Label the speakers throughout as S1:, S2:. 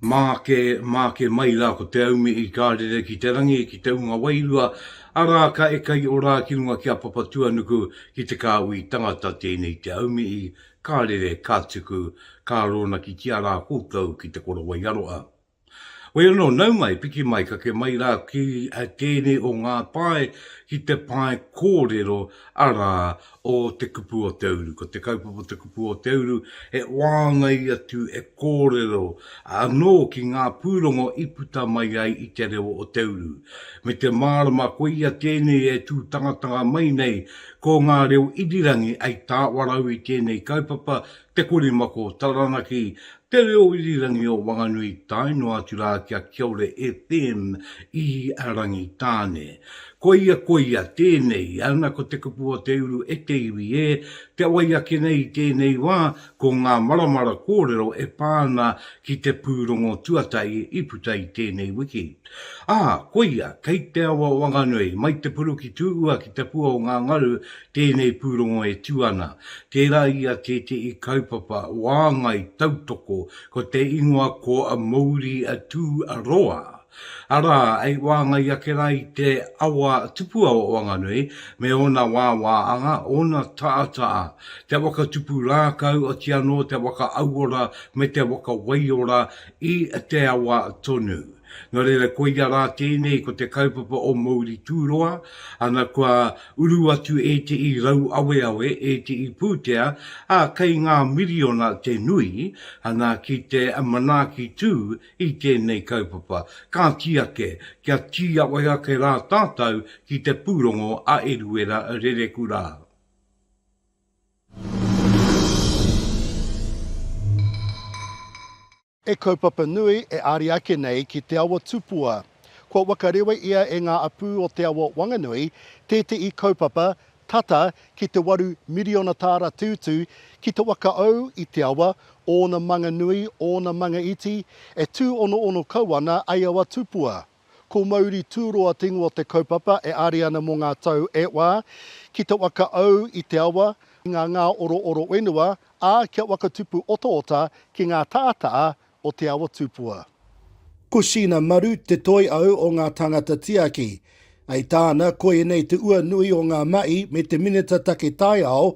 S1: Māke, māke mai rā ko te aumi i kā rere ki te rangi, ki te unga wairua, arā, ka eka i orā ki runga ki a Papatuanuku, ki te kāhui tangata tēnei te aumi i kā rere, kā tuku, kā rōnakitia rā koutou ki te korowai aroha. Hoi anō, nau mai, piki mai, kake mai rā ki tēnei o ngā pae ki te pae kōrero, arā, o Te Kupu o Te Uru. Ko te kaupapa Te Kupu o Te Uru, he wāngai atu e kōrero anō ki ngā pūrongo i puta mai ai i te reo o te uru. Me te mārama koia tēnei e tū tangatanga mai nei, ko ngā reo irirangi ai tāwarau i tēnei kaupapa, Te Korimako, Taranaki, Te Reo Irirangi o Wanganui tae noa atu rā ki a Kiaore FM i Rangitāne. Koia, koia, tēnei, ana ko te kupu o te uru e te iwi ē, kia wai ake nei i tēnei wā, ko ngā maramara kōrero e pā ana ki te pūrongo tuatahi i puta i tēnei wiki. Ā, koia, kei te awa o Wanganui, mai te puru ki Tūhua ki te pua o ngā ngaru Tēnei pūrongo e tū ana, tērā i a tētehi kaupapa wāngai tautoko ko te ingoa ko Mouri a Tū a Roa, arā, i wāngai ake rā i te awa tupua o Wanganui me ōna wāwā anga, ōna tātaa, te waka tupu rākau, oti anō te waka auora me te waka waiora i te awa tonu. Nō reira, koia rā tēnei ko te kaupapa o Mouri Tūroa, ana kua uru atu e te i rauaweawe, e te i pūtea, ā, kei ngā miriona te nui, ana, ki te manaaki tū i tēnei kaupapa. Kāti ake, kia tīawai ake rā tātou ki te pūrongo a Eruera Rereku rā.
S2: He kaupapa nui e ari ake nei ki Te Awa Tupua. Kua wakarewa ia e ngā apū o Te Awa Wanganui, tētehi kaupapa tata ki te waru miriona tāra te utu ki te wakaau i te awa, ōna manga nui, ōna manga iti, e tūonoono kau ana ai awa tupua. Ko Mauri Tūroa te ingoa o te kaupapa e āri ana mō ngā tau e whā, ki te whakaau i te awa, i ngā ngā orooro whenua, ā, kia whakatupu otaota ki ngā tātaa o Te Awa Tupua. Ko Sheena Maru te toi au o ngā tāngata tiaki. I tāna, ko ēnei te ua nui o ngā mahi me te Minita Take Taiao,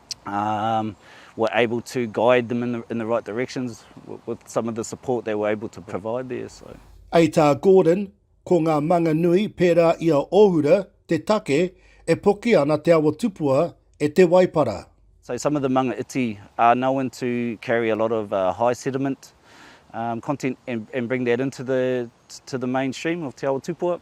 S3: um, were able to guide them in the, in the right directions with, with some of the support they were able to provide there. So. Ei tā Gordon,
S2: ko ngā manga nui pērā i a Ohura te take e poki ana te awa tupua e Te Waipara. So some of the manga
S3: iti are known to carry a lot of uh, high sediment um, content and, and bring that into the, to the mainstream of Te Awa Tupua.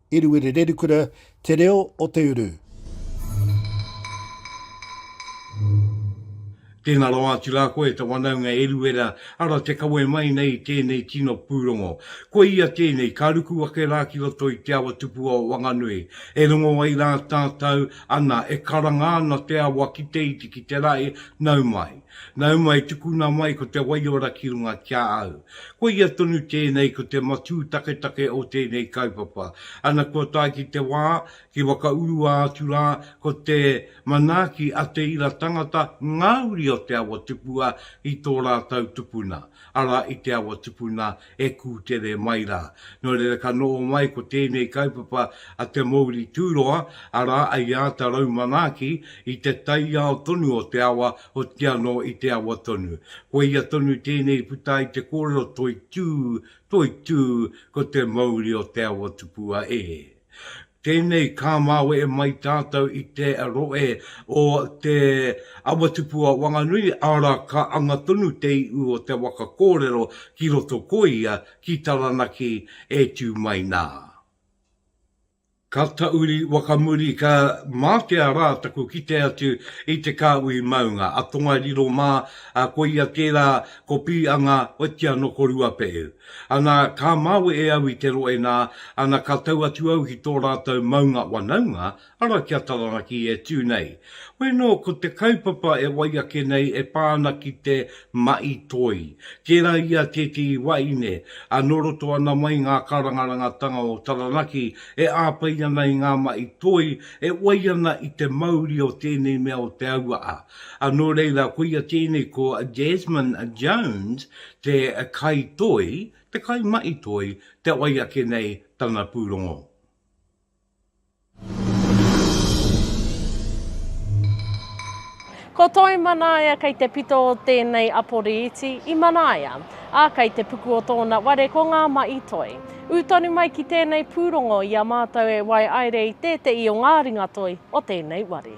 S2: Eruere Rerukura, Te Reo o te Uru.
S1: Tēnā rawa atu rā koe te wanaunga Eruera, ara te kawe mai nei i tēnei tino pūrongo. Kua ia tēnei, ka ruku ake rā ki roto i te awa tupua o Wanganui. E rongo ai rā tātau, ana, e karanga ana te awa ki te iti ki te rae, nau mai. Nau mai, tukuna mai ko te waiora ki runga ki a au. Koia tonu tēnei ko te matū taketake o tēnei kaupapa. Ana kua tae ki te wā, ki whakaurua atu rā, ko te manaaki a te ira tangata ngā uri o te awa tupua i tō rātau tupuna, arā i te awa tupuna e kūtere mai rā. Nō reira ka noho mai ko tēnei kaupapa a Te Mouri Tūroa, arā, i āta raumanaaki i te taiao tonu o te awa Hoki anō i te awa tonu. Koia tonu tēnei i puta ai te kōrero toitū, toitū, ko te mauri o te awa tupua e. Tēnei ka māwe mai tātou i te rohe o te awa tupua Wanganui, arā, ka anga tonu te iu o te waka kōrero ki roto ko ia, ki Taranaki e tū mai nā. Ka tauri waka muri ka mātea rā taku kite atu i te kāhui maunga a Tongariro mā, ā, koia tērā ko Pīanga oitia nō ko Ruapehu. Ana, ka māwe e au i te rohe nā, ana ka tau atu au ki tō rātou maunga wanaunga, arā ki a Taranaki e tū nei. Hoi anō, ko te kaupapa e wai ake nei e pā ana ki te Ma'i Toi. Tērā ia tētehi wahine a nō roto ana mai ngā karangarangatanga o Taranaki e āwhai ana i ngā ma'i toi e wai ana i te mauri o tēnei mea o te auaha. A nō reira koia tēnei ko Desmond Jones te kai toi, te kai ma'i toi te wai ake nei tana pūrongo.
S4: Ko Toi Manaia kei te pito o tēnei Aporiiti i Manaia, ā, kei te puku o tōna ware ko Ngā Mahi Toi. Ū tonu mai ki tēnei pūrongo i a mātou e waiaere i tēteī o ngā ringatoi o tēnei ware.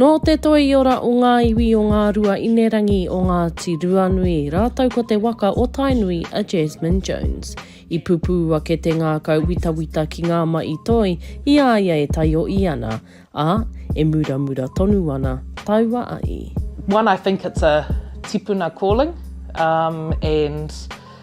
S5: Nō te
S6: toiora o ngā iwi o Ngārua Inerangi o Ngāti Ruanui rātou ko te waka o Tainui a Jasmine Jones. I pupū ake te ngākau witawita ki ngā maʻi toi i a ia e taioʻi ana, ā, e muramura tonu ana taua aʻi. One I think it's
S5: a tipuna calling and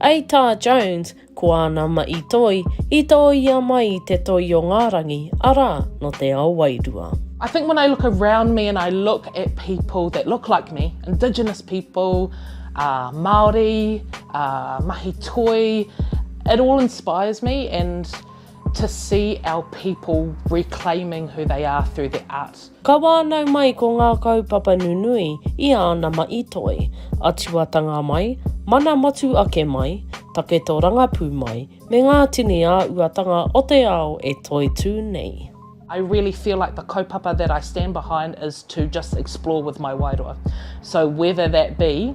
S5: Ei tā
S6: Jones, ko āna maʻi toi i tōia mai i te toi o ngā rangi, arā, nō te ao wairua. I think when I look
S5: around me and I look at people that look like me, indigenous people, Māori, mahi toi, it all inspires me and. to see our people reclaiming who they are through their art. Ka wānau mai
S6: ko ngā kaupapa nunui i āna maʻi toi, atuatanga mai, mana motu ake mai, taketo rangapū mai, me ngā tini āuatanga o te ao e toitū nei. I really feel
S5: like the kaupapa that I stand behind is to just explore with my wairua. So whether that be.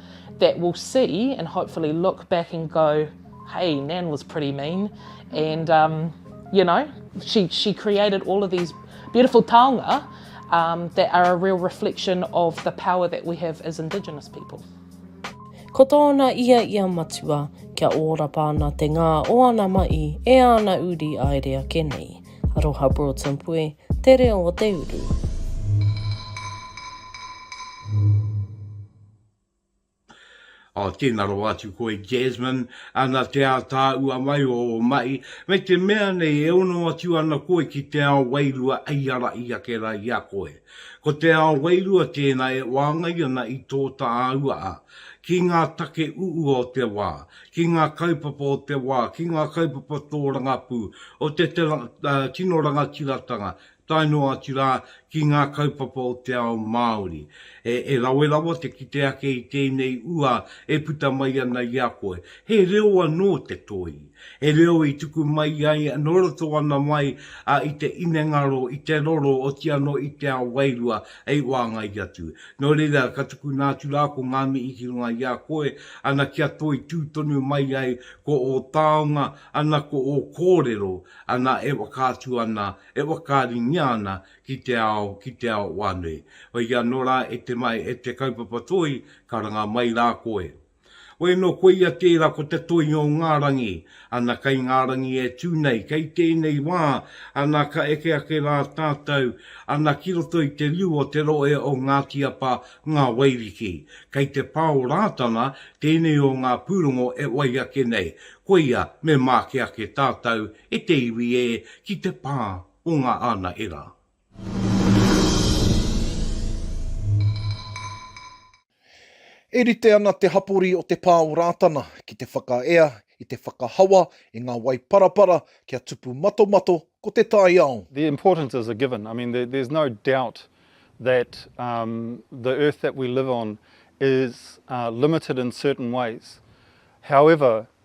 S5: that will see and hopefully look back and go, hey, Nan was pretty mean. And, um, you know, she, she created all of these beautiful taonga um, that are a real reflection of the power that we have as Indigenous people. Ko
S6: tōna ia i a Matua, kia ōrapa ana te ngā o ana mahi e ana uri aere ake nei. Aroha Broughton Pue, Te Reo o te Uru.
S1: Oh, tēnā rawa atu koe Jasmine, ana te ātaahua mai o ō mahi, me te mea nei e ono atu ana koe ki te ao wairua hei ara i ake rā i a koe. Ko te ao wairua tēnā e wāngai ana i tō tāahua a, ki ngā take uua o te wā, ki ngā kaupapa o te wā, ki ngā kaupapa tōrangapū, o te tino rangatiratanga, tae noa atu rā ki ngā kaupapa o te ao Māori, e rawe rawa te kite ake i tēnei ua e puta mai ana i a koe. He reo anō te toi, he reo i tuku mai ai nō roto ana mai i te inengaro, i te roro, oti anō i te ao wairua hei wāngai atu. Nō reira, ka tukuna atu rā ko ngā mihi ki runga i a koe, ana kia toi tū tonu mai ai ko ō taonga, ana ko ō kōrero, ana e whakaatu ana e whakaaringia ana ki te ao, ki te ao whānui. Whai anō rā e te mai e te kaupapa toi, karanga mai rā koe. Whai anō koia tērā ko te toi o ngā rangi, ana kei ngā rangi e tū nei, kei tēnei wā, ana ka eke ake rā tātou, ana ki roto i te riu o te rohe o Ngāti Apa, Ngā Wairiki. Kei te pā o Rātana tēnei o ngā pūrongo e wai ake nei, koia me māke ake tātou E te iwi e, ki te pā o ngā ānaherā.
S2: E rite ana te hapori o te pā o Rātana ki te whakaea i te whakahawa i ngā wai parapara kia tupu matomato ko te taiao. The importance is a
S7: given, I mean there's no doubt that the earth that we live on is limited in certain ways, however,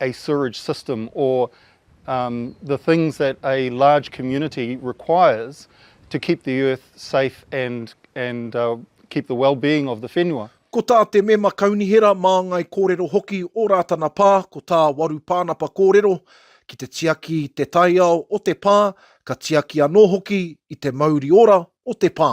S7: a sewerage system or um the things that a large community requires to keep the earth safe and and uh keep the well-being of the whenua. Ko
S8: tā te mema kaunihera, māngai kōrero hoki o Rātana Pā, ko tā Waru Pānapa kōrero, ki te tiaki i te taiao o te pā, ka tiaki anō hoki i te mauri ora o te pā.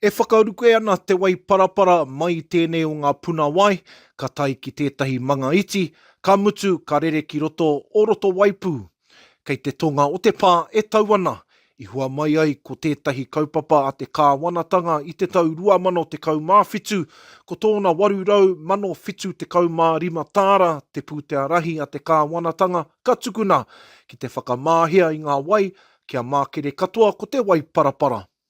S7: E whakaruke
S8: ana Te Waiparapara mai i tēnei o ngā puna wai, ka tae ki tētahi manga iti, ka mutu ka rere ki roto o Rotowaipū. Kei te tonga o te pā e tau ana, i hua mai ai ko tētahi kaupapa a te kāwanatanga i te tau 2017, ko tōna 875 tāra te pūtea rahi a te kāwanatanga ka tukuna ki te whakamahea i ngā wai kia mākere katoa ko Te Waiparapara.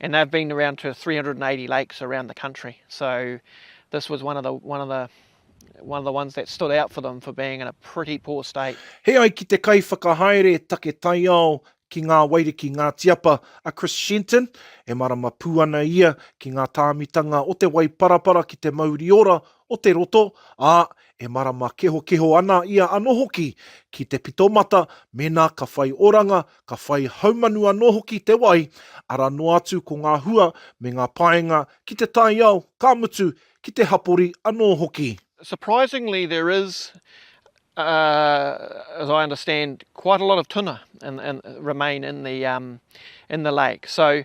S9: and they've been around to 380 lakes around the country. So this was one of the one of the one of the ones that stood out for them for being in a pretty poor state. He ai ki te
S8: kaiwhakahaere take taiao ki ngā wairiki Ngāti Apa a Chris Shenton, e marama pū ana ia ki ngā tāmitanga o te waiparapara ki te mauri ora o te roto, ā, e marama kehokeho ana ia anō hoki ki te pitomata mēnā ka whai oranga ka whai haumanu anō hoki te wai, arā noa atu ko ngā hua me ngā paenga ki te taiao, ka mutu, ki te hapori anō hoki. Surprisingly
S9: there is, as I understand, quite a lot of tuna remain in the lake. So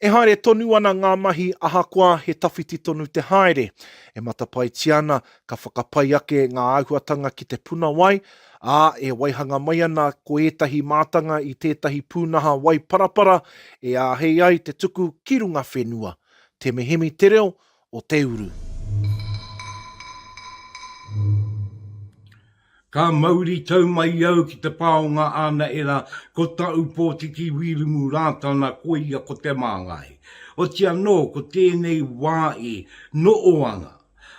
S7: E haere
S8: tonu ana ngā mahi ahakoa he tawhiti tonu te haere. E matapaetia ana, ka whakapai ake ngā āhuatanga ki te puna wai, ā, e waihanga mai ana ko ētahi mātanga i tētahi pūnaha wai parapara e āhei ai te tuku ki runga whenua. Temehemi te reo, o te uru.
S1: Ka mauri tau mai au ki te pā o ngā ānaera ko Taupōtiki Wīrumu Rātana koia ko Te Māngai. Oti anō ko tēnei wā i Nooanga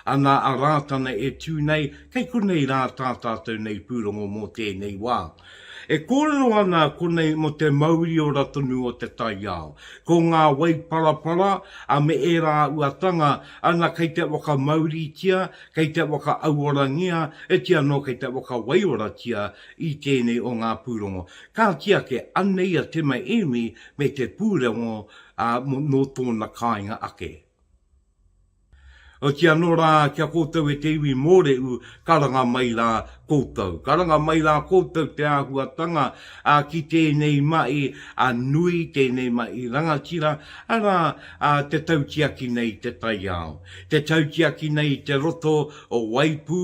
S1: ana a Rātana e tū nei, kei konei rā tā tātou nei pūrongo mō tēnei wā. E kōrero ana konei mō te mauriora tonu o te taiao. Ko ngā wai parapara a me ērā uatanga ana kei te whakamauritia, kei te whakaauorangia, e ti anō kei te whakawaiora-tia i tēnei o ngā pūrongo. Kāti ake, anei a Te Mai Emi me te pūrongo nō tōna kāinga ake. Oti anō rā ki a koutou e te iwi mōrehu, karanga mai rā koutou. Karanga mai rā koutou te āhuatanga ki tēnei mahi nui, tēnei mahi rangatira, arā, te tautiaki nei i te taiao, te tautiaki nei i te roto o Waipū,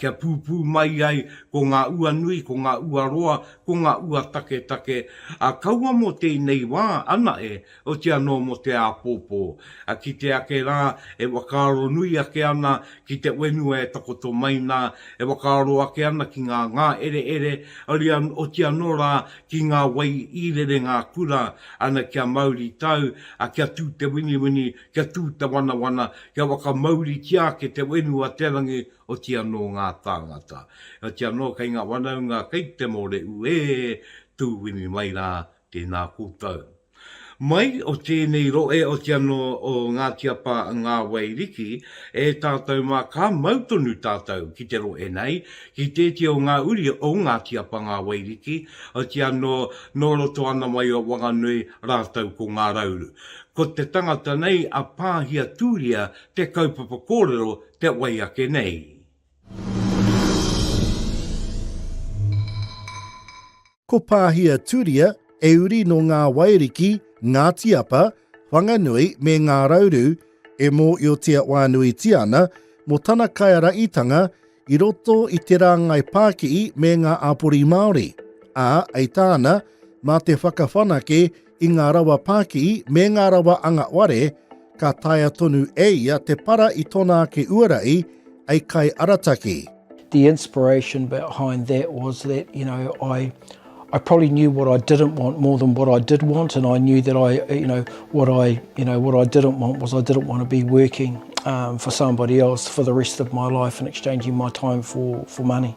S1: kia pūpū mai ai ko ngā ua nui, ko ngā ua roa, ko ngā ua taketake, kaua mō tēnei wā anahe, otia noa mō te āpōpō, a kite ake rā e whakaaro nui ake ana ki te whenua e takoto mai nā, e whakaaro ake ana ki ngā ngāereere, oria, otia noa rā ki ngā wai i rere ngā kura, ana kia mauri tau, a kia tū te winiwini, kia tū te wanawana, kia whakamauritia ake te whenua, te rangi, otia nō ngā tāngata. Otia noa kei ngā wanaunga kei te mōreū ē, tūwini mai rā, Tēnā koutou. Mai o tēnei rohe o te anō o Ngāti Apa Ngā Wai Riki e tātou mā ka mau tonu tātou ki te rohe nei, ki tēti o ngā uri o Ngāti Apa Ngā Wai Riki o te anō nō roto ana mai o Wanganui rātou ko Ngā Rauru. Ko te tangata nei a Pāhia Tūria te kaupapa kōrero te wai ake nei.
S2: Ko Pāhia Turia, e uri nō Ngā Wairiki, Ngāti Apa, Whanganui me Ngā Rauru, e mōiotia whānuitia ana mō tana kaiaraitanga i roto i te rāngai pākihi me ngā āpori Māori, ā, hei tāna, mā te whakawhanake i ngā rawa pākī me ngā rawa anga ware, ka taea tonu e ia te para i tōna ake uara i a kai arataki. The inspiration
S10: behind that was that, you know, I I probably knew what I didn't want more than what I did want and I knew that I, you know, what I, you know, what I didn't want was I didn't want to be working um, for somebody else for the rest of my life and exchanging my time for, for money.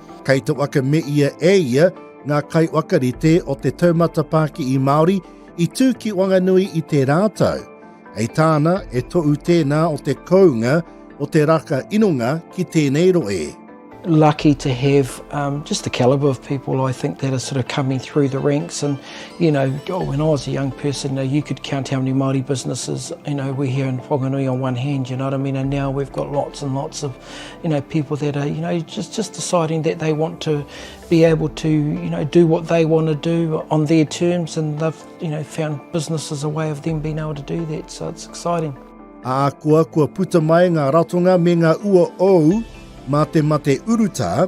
S10: Kei te waka
S2: me ia e ia ngā kaiwakarite o te taumata Pākihi Māori i tū ki Wanganui i tērā tau. Hei tāna, e toʻu tēnā o te kounga o te raka inonga ki tēnei roe. lucky to
S10: have um, just the calibre of people I think that are sort of coming through the ranks. And you know, oh, when I was a young person, you, know, you could count how many Maori businesses you know we here in Whanganui on one hand. You know what I mean? And now we've got lots and lots of you know, people that are, you know, just, just deciding that they want to be able to, you know, do what they want to do on their terms and they've, you know, found business as a way of them being able to do that, so it's exciting. Ākoa
S2: kua puta mai ngā ratonga me ngā ua ōu mā te mate urutā,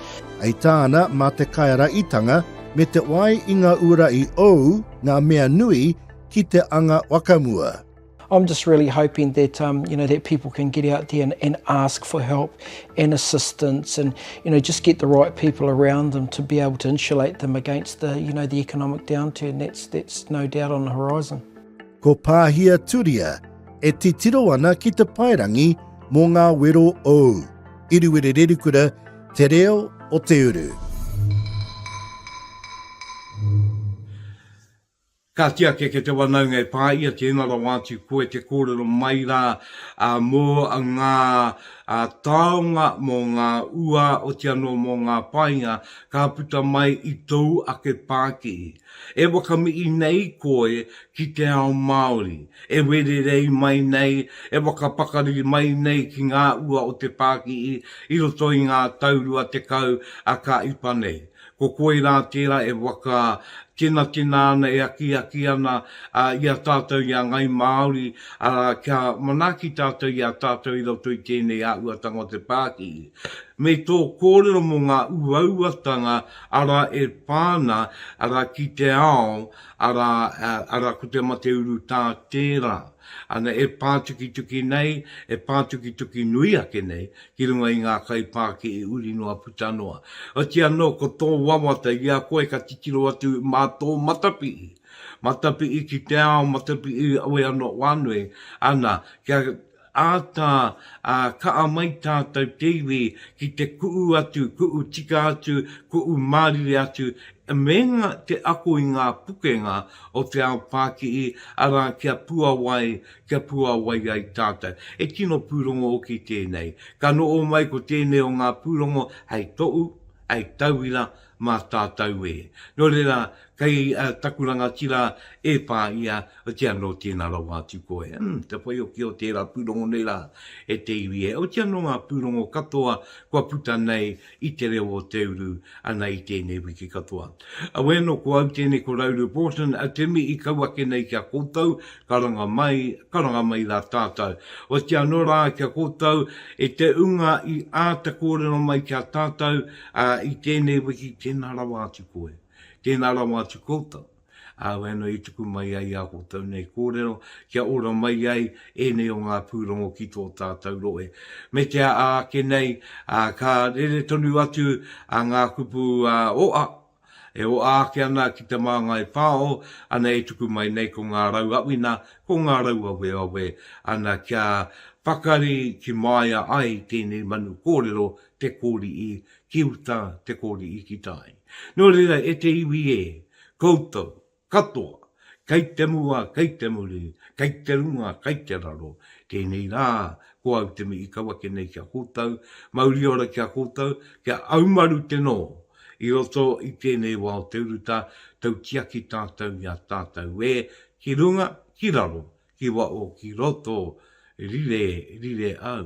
S10: Hei tāna,
S2: mā te Kaiaraitanga me te wai i ngā ura i ou ngā mea nui ki te anga wakamua. I'm just really
S10: hoping that um, you know that people can get out there and, and ask for help and assistance, and you know just get the right people around them to be able to insulate them against the you know the economic downturn that's that's no doubt on the horizon. Ko Pāhia
S2: Turia e titiro ana ki te paerangi mō ngā wero ou. Iriwiri Rerikura, Te Reo o te
S1: Uru. Ka tiaki ke te wanaunga e pa i a tena rawa atu koe te korero mai ra mo nga taonga mo nga ua oti ano mo nga painga ka puta mai i tou ake pakihi. E whakamii nei koe ki te ao Māori, e wererei mai nei, e whakapakari mai nei ki ngā ua o te pākihi i roto i ngā tau rua tekau a ka ipa nei. Ko koe rā tērā e waka tenatena ana e akiaki ana i a tātou i a Ngai Māori, arā, kia manaaki tātou i a tātou i roto i tēnei āhuatanga o te pākihi. Me tō kōrero mō ngā uauatanga Arā, e whā ana, arā, ki te ao, arā, arā, ko te mate urutā tērā. Ana, e pātukituki nei, e pātukituki nui ake nei, ki runga i ngā kaipākihi uri noa puta noa. Otiia anō, ko tō wawata i a koe ka titiro atu mā tō matapihi, matapihi ki te ao, matapihi i awe anō whānui, ana, kia. Āta kaa mai tātou te iwi ki te ku'u atu, ku'u tika atu, ku'u mārire atu me nga te ako i ngā pukenga o te ao pākihi, arā kia puawai, kia puawai ai tātou. He tino pūrongo hoki tēnei. Ka noho mai ko tēnei o ngā pūrongo hei tohu, hei tauira, mā tātou e. Nō reira, kei taku rangatira e pā ia, otiia nō tēnā rawa atu koe. Umm, te whaihoki o tērā pūrongo nei rā, e te iwi e. Otiia nō ngā pūrongo katoa kua puta nei i Te Reo o Te Uru ana i tēnei wiki katoa. Auē nō ko au tēnei ko Rauru Broughton, a Timi i kau ake nei ki a koutou, ka ranga mai, ka ranga mai rā tātou. Otiia nō rā ki a koutou, e te ūnga i āta kōrero mai ki a tātou, Ā, i tēnei wiki, tēnā rawa atu koe, tēnā rawa atu koutou, ā, waenga i tuku mai ai ā koutou nei kōrero, kia ora mai ai ēnei o ngā pūrongo ki tō tātou rohe. Meatia ā, ake nei, ā, ka rere tonu atu ngā kupu ō, ā, E oa ake ana ki Te Māngai Whao, ana e tuku mai nei ko ngā rau awina, ko ngā rau aweawe, ana kia pakari ki māia ai tēnei manu kōrero te kōri'i ki uta, te kōri'i ki tai. Nō reira e te iwi e, koutou, Katoa, kei te mua, kei te muri, kei te runga, kei te raro, tēnei rā, ko au te mihi kau ake nei ki a koutou, mauri ora ki a koutou, ki a Aumaru te nō, i roto i tēnei wā o te urutā, tautiaki tātou i a tātou ē, ki runga, ki raro, ki waho, ki roto, rire, rire au.